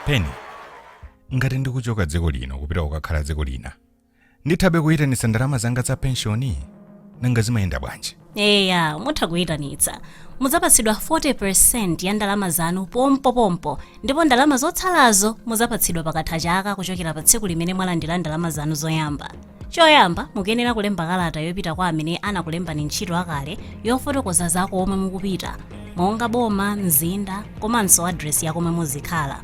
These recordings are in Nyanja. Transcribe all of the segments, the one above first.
peni ngati ndikuchoka dziko lino kupita kukakhala dziko lina ndithabe kuyitanitsa ndalama zanga za penshoni nanga zimayenda bwanji eya mutha kuyitanitsa mudzapatsidwa 40% ya ndalama zanu pompopompo ndipo ndalama zotsalazo mudzapatsidwa pakatha chaka kuchokera pa tsiku limene mwalandira ndalama zanu zoyamba choyamba mukuyenera kulemba kalata yopita kwa amene anakulembani ntchito akale yofotokoza za komwe mukupita monga boma mzinda komanso adresi ya komwe muzikhala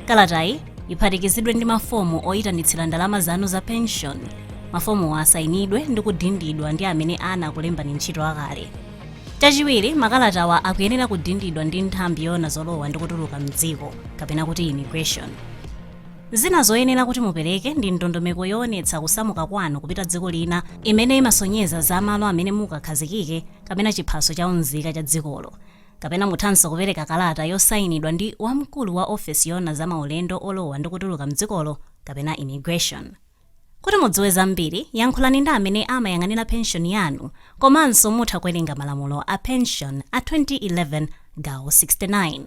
Kalatayi iphatikizidwe ndi mafomu oyitanitsira ndalama zanu za penshoni. Mafomuwa asayinidwe ndi kudindidwa ndi amene anakulembani ntchito akale. Chachiwiri, makalatawa akuyenera kudindidwa ndi nthambi yoona zolowa ndi kutuluka m'dziko, kapena kuti immigration. Zina zoyenera kuti mupereke ndi ndondomeko yoonetsa kusamuka kwanu kupita dziko lina imene imasonyeza za malo amene mukakhazikike kapena chiphaso cha unzika cha dzikolo. Kapena muthanso kupereka kalata yosainidwa ndi wamkulu wa ofesi yoona za maulendo olowa ndi kutuluka m'dzikolo kapena Immigration. Kuti mudziwe zambiri, yankhulani ndi amene amayang'anira penshoni yanu komanso mutha kuwerenga malamulo a penshoni a 2011 gawo 69.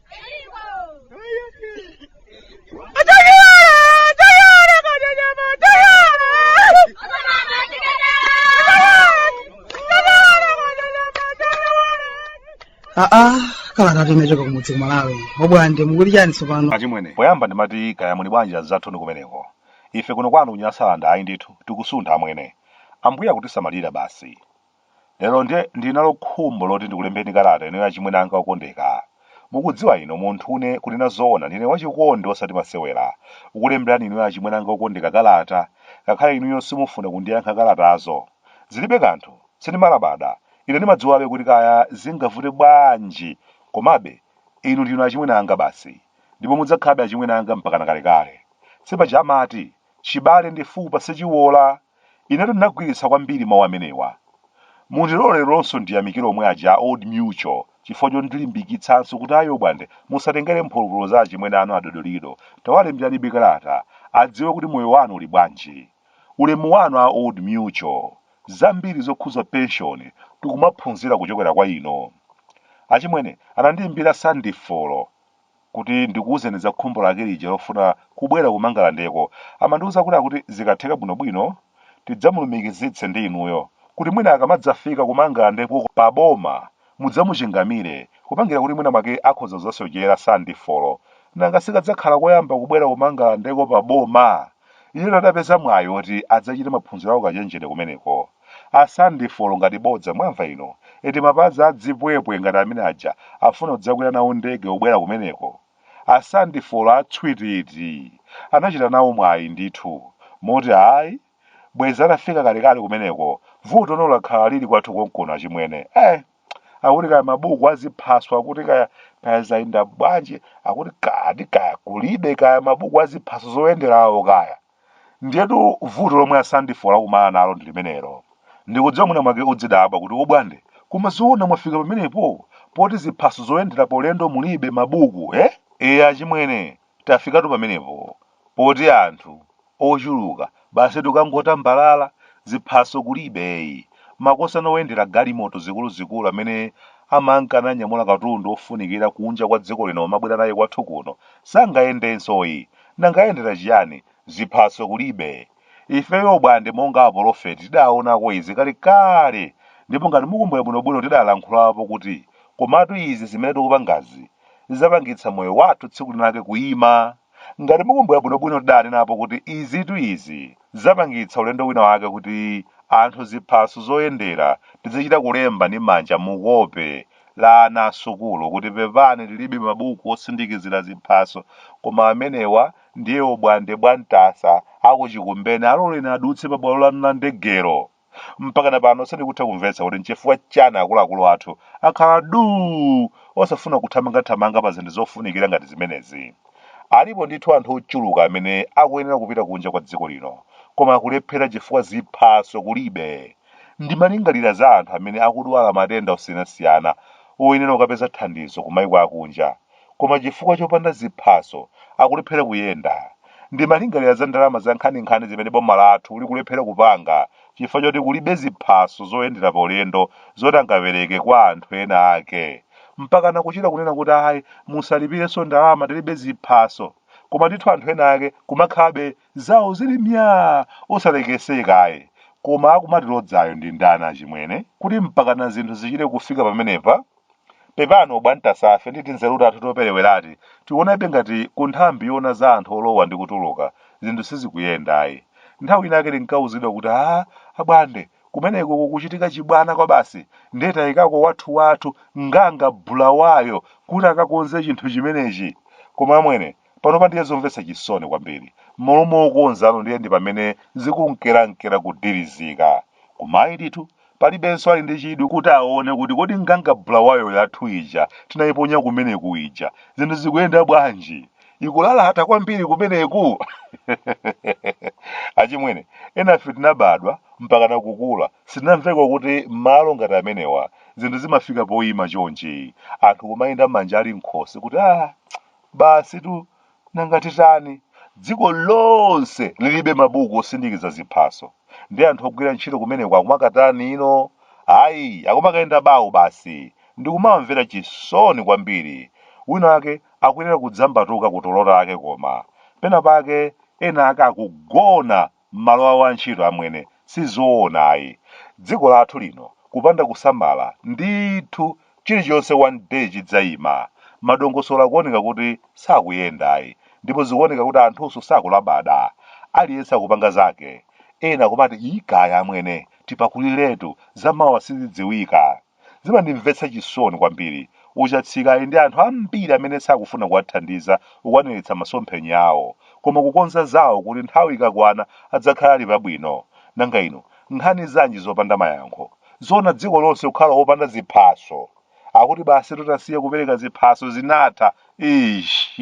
aa kalatatu imachoka kumudzi kumalawi obwande mukuti chani tsopano achimwene poyamba ndimati kaya muli bwanji azathuni kumeneko ife kuno kwanu kunyasalanda ayi ndithu tikusuntha amwene ambuye akutisamalira basi Lero nde ndili nalo khumbo loti ndikulembereni kalata inuyo achimwene anga okondeka. Mukudziwa inu munthune kunena zoona ndine wachikondi osati masewera. Ukulemberani inuyo achimwene anga okondeka kalata ngakhale inuyo simufuna kundiyankha kalatazo. Zilibe kanthu, sindimalabada, ine ndimadziwabe kuti kaya zingavute bwanji komabe inu ndinu achimwene anga basi ndipo mudzakhalabe achimwene anga mpakana kalekale. Sipaja amati, chibale ndi fupa sichiwola? Inetu ndinagwiritsa kwambiri mau amenewa. Mundilole leronso ndiyamikire omwe aja a Old Mutual chifukwa chondilimbikitsanso kuti ayi Obwande musatengere mphulupulu za achimwene anu a Dodolido, tawalemberanibe kalata adziwe kuti moyo wanu uli bwanji. Ulemu wanu a Old Mutual. Zambiri zokhuza pension tikumaphunzira kuchokera kwa inu. Achimwene anandiimbira Sandifolo. kuti ndikuuzeni za khumbo lake lija lofuna kubwera kumangalandeko amandiuza kuti zikatheka bwinobwino tidzamulumikizitse ndi inuyo kuti mwina akamadzafika kumangalandeko pa boma mudzamuchingamire kupangira kuti mwina mwake akhoza kuzasochera sandifolo nanga sikadzakhala koyamba kubwera kumangalandeko pa boma iye adapeza mwayi woti adzachite maphunziro aukachenjede kumeneko A Sandifolo ngati bodza mwamva inu? Eti mapazi a dzipwepwe ngati amene aja afuna kudzakwera nawo ndege pobwera kumeneko? A Sandifolo a tswititi anachita nawo mwayi ndithu moti ayi bwezi atafika kalekale kumeneko vutono lakhala lili kwathu konkuno achimwene eh! Akuti kaya mabuku a ziphaso akuti kaya kaya zayenda bwanji akuti kaya ati kaya kulibe kaya mabuku a ziphaso zoyenderawo kaya. Ndiyetu vuto lomwe a Sandifolo akumana nalo ndi limenelo. Ndikudziwa mwina mwake udzidabwa kuti Obwande, koma zoona mwafika pamenepo? Poti ziphaso zoyendera paulendo mulibe, mabuku, ee? Eya achimwene, tafikatu pamenepo. Poti anthu, ochuluka, basitu kangotambalala, ziphaso kulibe, eyi. Makosana oyendera galimoto zikuluzikulu amene amankananyamula katundu ofunikira kunja kwa dziko lino n'kumabwera naye kwathu kuno, sangayendenso, eyi. Nanga ayendera chiyani? Ziphaso kulibe. Ife Obwande monga apolofeti tidaonako izi kalekale ndipo ngati mukumbukira bwinobwino tidalankhulapo kuti komatu izi zimene tikupangazi zidzapangitsa moyo wathu tsiku linake kuima. Ngati mukumbukira bwinobwino tidanenapo kuti izitu izi zidzapangitsa ulendo wina wake kuti anthu ziphaso zoyendera tizichita kulemba ndi manja mukope la ana a sukulu kuti pepani tilibe mabuku osindikizira ziphaso koma amenewa ndiye Obwande Bwantasa aku Chikumbeni aloleni adutse pa bwalo lanu la ndegelo. Mpakana pano sindikutha kumvetsa kuti nchifukwa chani akuluakulu athu akhala duu osafuna kuthamangathamanga pa zinthu zofunikira ngati zimenezi. Alipo ndithu anthu ochuluka amene akuyenera kupita kunja kwa dziko lino koma akulephera chifukwa ziphaso kulibe. Ndimalingalira za anthu amene akudwala matenda osiyanasiyana oyenera kukapeza thandizo kumaiko akunja, koma chifukwa chopanda ziphaso akulephera kuyenda. Ndimalingalira za ndalama zankhaninkhani zimene boma lathu likulephera kupanga chifukwa choti kulibe ziphaso zoyendera paulendo zoti angapereke kwa anthu ena ake. Mpakana kuchita kunena kuti ayi, musalipirenso ndalama tilibe ziphaso. Koma ndithu anthu ena ake kumakhalabe Zawo zili myaa! Osalekeseka ayi. Koma akumatilodzayo ndi ndani achimwene? Kuti mpakana zinthu zichite kufika pamenepa? Pepani obwantasafe ndi tinzeru tathu toperewerati tikuonabe ngati ku nthambi yoona za anthu olowa ndi kutuluka zinthu sizikuyenda ayi. Nthawi inayake tinkauzidwa kuti haa abwande kumeneko kukuchitika chibwana kwabasi ndiye taikako wathuwathu, Nganga Bulawayo kuti akakonze chinthu chimenechi. Koma amwene Panopa ndiye zomvetsa chisoni kwambiri. M'malo mokonzano ndiye ndi pamene zikunkerankera kudirizika. Koma ndithu, palibenso ali ndi chidwi kuti aone kuti kodi nganga Bulawayo yathu ija tinaiponya kumeneku ija, zinthu zikuyenda bwanji? Ikulalata kwambiri kumeneku? Achimwene, enafe tinabadwa mpakana kukula sitinamveko kuti malo ngati amenewa zinthu zimafika poima chonchi, anthu kumayenda manja ali m'khosi kuti ah, Basitu, nanga titani? Dziko lonse lilibe mabuku osindikiza ziphaso, ndiye anthu ogwira ntchito kumeneko akumakatani ino? Ayi, akumakayenda bawo basi. Ndikumawamvera chisoni kwambiri. Winawake akuyenera kudzambatuka kutulo take koma. Penapake ena ake akugona mmalo awo antchito amwene sizoona ayi dziko lathu lino kupanda kusamala ndithu chilichonse one day chidzaima madongosolo akuoneka kuti sakuyenda ayi ndipo zikuoneka kuti anthunso sakulabada aliyense akupanga zake ena kumati ii kaya amwene tipakuliretu zamawa sizidziwika Zimandimvetsa chisoni kwambiri. A Chatsika ali ndi anthu ambiri amene sakufuna kuwathandiza kukwaniritsa masomphenya awo, koma kukonza zawo kuti nthawi ikakwana adzakhala ali pabwino. Nanga ino, nkhani zanji zopanda mayankho? Zoona dziko lonse kukhala opanda ziphaso? Akuti basitu tasiya kupereka ziphaso zinatha Eeeshh!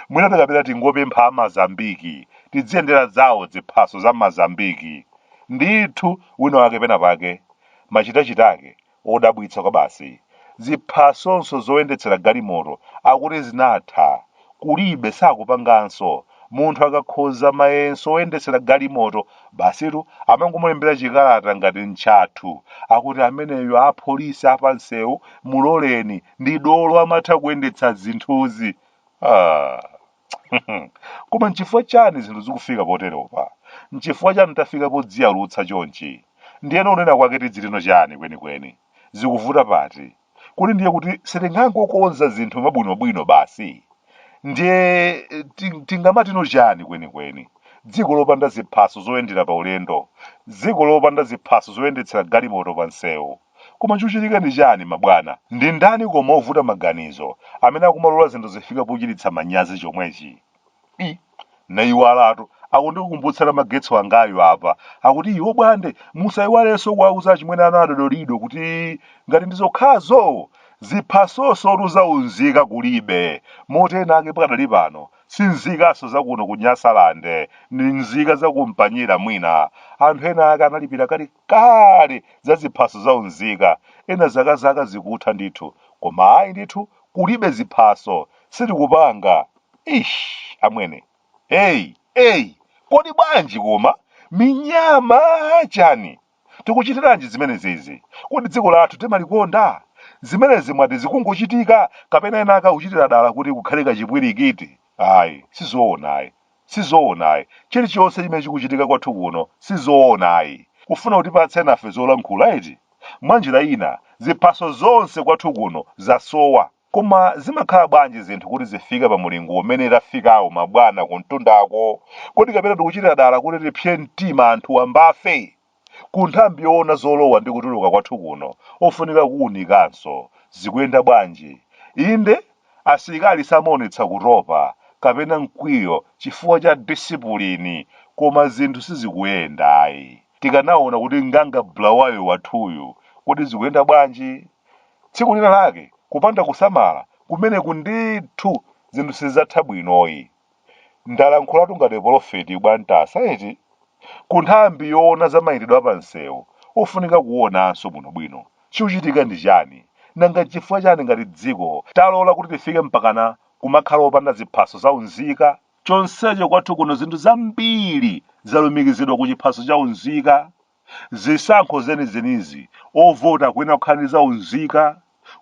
Mwinatu kapena tingopempha a Mazambiki tidziyendera zawo dziphaso za Mazambiki. Ndithu wina wake pena pake Machitachita ake odabwitsa kwabasi. Ziphasonso zoyendetsera galimoto akuti zinatha. Kulibe, sakupanganso. Munthu akakhoza mayeso oyendetsera galimoto, basitu amangomulembera chikalata ngati n'chathu. Akuti ameneyo apolisi apamsewu muloleni, ndi dolo amatha kuyendetsa zinthuzi. Aaa. Koma n'chifukwa chani zinthu zikufika poteropa? N'chifukwa chani tafika podziyalutsa chonchi? Ndiyeno kunena kwake tidzitino chani kwenikweni? Zikuvuta pati? Kodi ndiye kuti sitingangokonza zinthu mwabwinobwino basi? Ndiye tingamatino chani kwenikweni? Dziko lopanda ziphaso zoyendera pa ulendo, dziko lopanda ziphaso zoyendetsera galimoto pa msewu, Koma chikuchitika ndi chani mabwana? Ndi ndani koma ovuta maganizo amene akumalola zinthu zifike pochititsa manyazi chomwechi? I, Ndayiwalatu, akundikumbutsa Namagetso angayu apa, akuti iwo Bwande musayiwalenso kuwauza achimwene anu a Dodolido kuti ngati ndi zokhazo, ziphasonsotu za unzika kulibe, moti ena ake pakadali pano si nzikanso za kuno ku Nyasalande, ndi nzika za ku Mpanyira mwina anthu ena ake analipira kali. kale za ziphaso za unzika ena zaka zaka zikutha ndithu koma ayi ndithu kulibe ziphaso sitikupanga ish amwene eyi eyi kodi bwanji koma minyama chani tikuchitiranji zimenezizi kodi dziko lathu timalikonda zimenezi mwati zikungochitika kapena ena akakuchitira dala kuti kukhale kachipwirikiti Ayi, si zoona ayi. Si zoona ayi. Chirichonse chimene chikuchitika kwathu kuno, si zoona ayi. Kufuna kutipatsa enafe zolankhula, eti? Mwanjira ina, ziphaso zonse kwathu kuno zasowa. Koma zimakhala bwanji zinthu kuti zifike pa mulingo umene tafikawu mabwana kumtundako? Kodi kapena tikuchitira dala kuti tipsye mtima anthu wambafe? ku nthambi yoona zolowa ndi kutuluka kwathu kuno ofunika kuunikanso. Zikuyenda bwanji? Inde, asilikali samaonetsa kutopa kapena mkwiyo chifukwa cha disipulini koma zinthu sizikuyenda ayi. Tikanaonako kuti nganga Bulawayo wathuyu, kodi zikuyenda bwanji? Tsiku lina lake kupanda kusamala kumeneku ndithu zinthu sizidzatha bwinoyi. Ndalankhulatu ngati polofeti bwantasa eti? Ku nthambi yoona za mayendedwe a pamsewu ofunika kuuonanso bwinobwino. Chikuchitika ndi chani? Nanga n'chifukwa chani ngati dziko talola kuti tifike mpakana kumakhala opanda ziphaso za unzika? Chonsecho kwathu kuno zinthu zambiri zalumikizidwa ku chiphaso cha unzika. Zisankho zenizenizi ovota kuyenera kukhala ndi za unzika,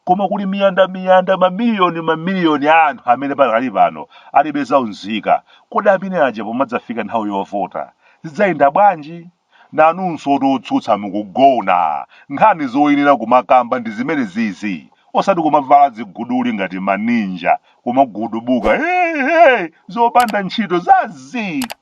koma kuli miyandamiyanda, mamiliyoni mamiliyoni a anthu amene pakali pano alibe za unzika. Kodi amene aja pomadzafika nthawi yovota zidzayenda bwanji? Nanunsotu otsutsa mukugona. Nkhani zoyenera kumakamba ndi zimenezizi, osati kumavala ziguduli ngati ma Ninja, kumagudubuka, Hey! Hey! Zopanda ntchito za zii!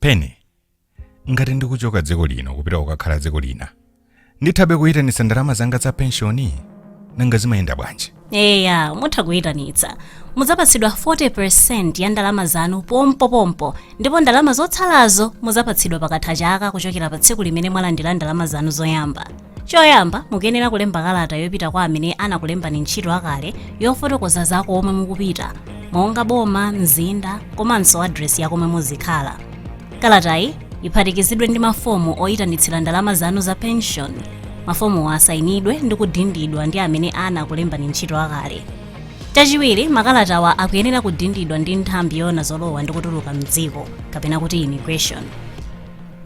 pene ngati ndikuchoka dziko lino kupita kukakhala dziko lina ndithabe kuyitanitsa ndalama zanga za penshoni nanga zimayenda bwanji eya mutha kuyitanitsa mudzapatsidwa 40% ya ndalama zanu pompopompo ndipo ndalama zotsalazo mudzapatsidwa pakatha chaka kuchokera pa tsiku limene mwalandira ndalama zanu zoyamba choyamba mukuyenera kulemba kalata yopita kwa amene anakulembani ntchito akale yofotokoza za komwe mukupita monga boma mzinda komanso adresi ya komwe muzikhala kalatayi iphatikizidwe ndi mafomu oyitanitsira ndalama zanu za pension mafomuwo asayinidwe ndi kudindidwa ndi amene anakulembani ntchito akale chachiwiri makalatawa akuyenera kudindidwa ndi nthambi yoona zolowa ndi kutuluka mdziko kapena kuti immigration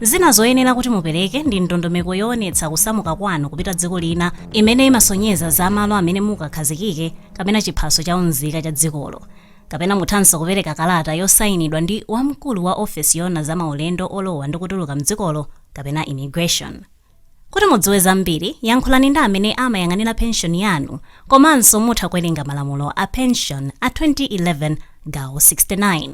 Zina zoyenera kuti mupereke ndi ndondomeko yoonetsa kusamuka kwanu kupita dziko lina imene imasonyeza za malo amene mukakhazikike kapena chiphaso cha unzika cha dzikolo. Kapena muthanso kupereka kalata yosainidwa ndi wamkulu wa ofesi yoona za maulendo olowa ndi kutuluka m'dzikolo kapena Immigration. Kuti mudziwe zambiri, yankhulani ndi amene amayang'anira penshoni yanu komanso mutha kuwerenga malamulo a penshoni a 2011 gawo 69.